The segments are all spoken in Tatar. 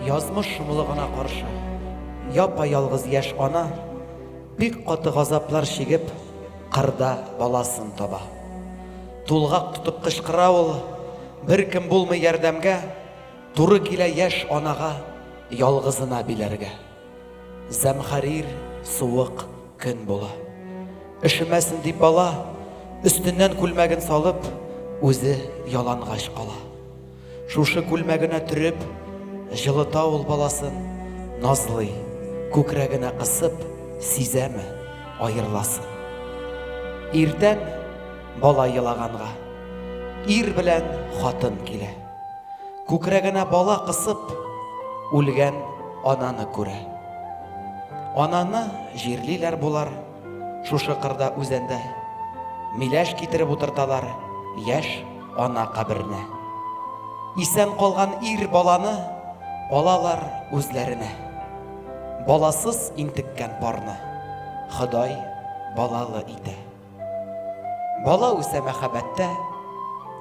Язмыш шомлыгына каршы, япа-ялгыз яшь ана бик каты газаплар чигеп, кырда баласын таба. Тулгак тотып кычкыра ул, беркем булмый ярдәмгә, туры килә яшь анага ялгызына биләргә. Зәмхәрир суык көн була. Өшемәсен дип бала, өстеннән күлмәген салып, үзе ялангач кала. Шушы күлмәгенә төреп, җылыта ул баласын, назлый, күкрәгенә кысып, сизәме, аерыласын. Иртән бала елаганга, ир белән хатын килә. Күкрәгенә бала кысып, үлгән ананы күрә. Ананы җирлиләр болар, шушы кырда үзәндә. Миләш китереп утырталар яшь ана каберенә. Исән калган ир баланы алалар үзләренә. Баласыз интеккән парны Ходай балалы итә. Бала үсә мәхәббәттә,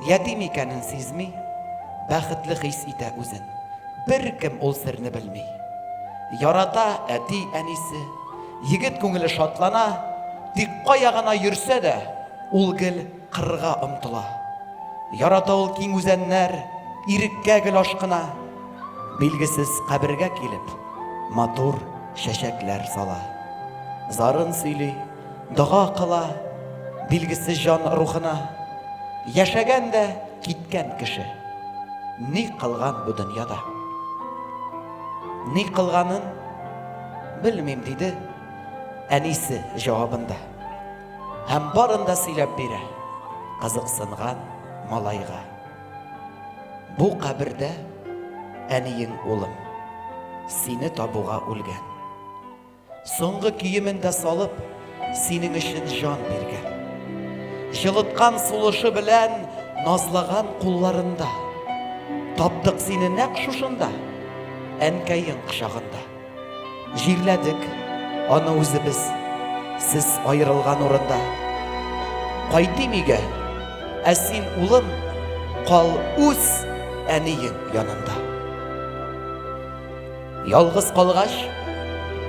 ятим икәнен сизми, бәхетле хис итә үзен. Беркем ул серне белми. Ярата әти, әнисе. Егет күңеле шатлана, тик кая гына йөрсә дә, ул гел кырга омтыла. Ярата ул киң үзәннәр, иреккә гел ашкына. Билгесез кабергә килеп, матур чәчәкләр сала. Зарын сөйли. Дога кыла билгесез җан рухына, Яшәгән дә киткән кеше. Ни кылган бу дөньяда? Ни кылганын белмим, диде әнисе җавабында. Һәм барын да сөйләп бирә кызыксынган малайга. Бу кабердә әниең улым сине табуга үлгән. Соңгы киемен дә салып, синең өчен җан биргән. Җылыткан сулышы белән назлаган кулларында. Таптык сине нәкъ шушында, әнкәең кочагында. Җирләдек аны үзебез, сез аерылган урында. Кайтыйм өйгә, ә син, улым, кал үз әниең янында. Ялгыз калгач,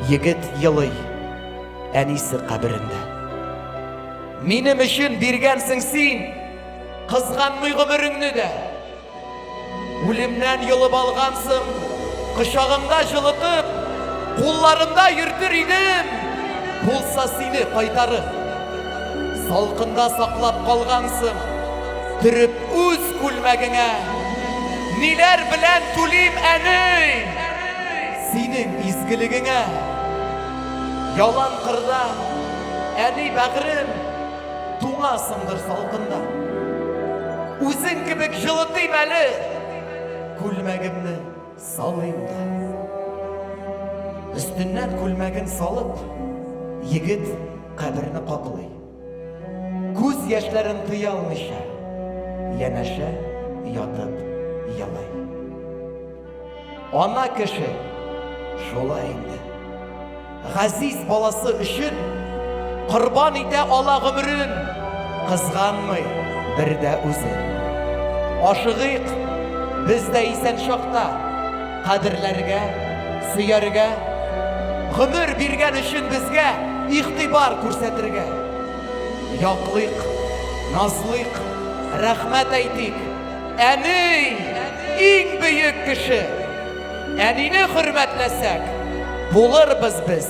егет елый әнисе каберендә. Минем өчен биргәнсең син, кызганмый гомереңне дә. Үлемнән йолып алгансың, кочагымда җылытып, кулларымда йөртер идем, булса сине кайтарып. Салкында саклап калгансың, төреп Үз күлмәгеңә ниләр белән түлим әни? Синең изгелегеңә ялан кырда әни бәгырем туңасыңдыр салкында. Үзең кебек җылытыйм әле күлмәгемне салыйм да. Өстеннән күлмәген салып, егет каберне каплый. Күз яшьләрен тыя алмыйча, янәшә ятып елый. Ана кеше шулай инде. Газиз баласы өчен корбан итә ала гомерен, кызганмый бер дә үзен. Ашыгыйк, без дә исән чакта. Кадерләргә, сөяргә, гомер биргән өчен безгә игътибар күрсәтергә. Яклыйк, назлыйк, рәхмәт әйтик. Әни, иң бөек кеше. Әнине хөрмәтләсәк, булырбыз без.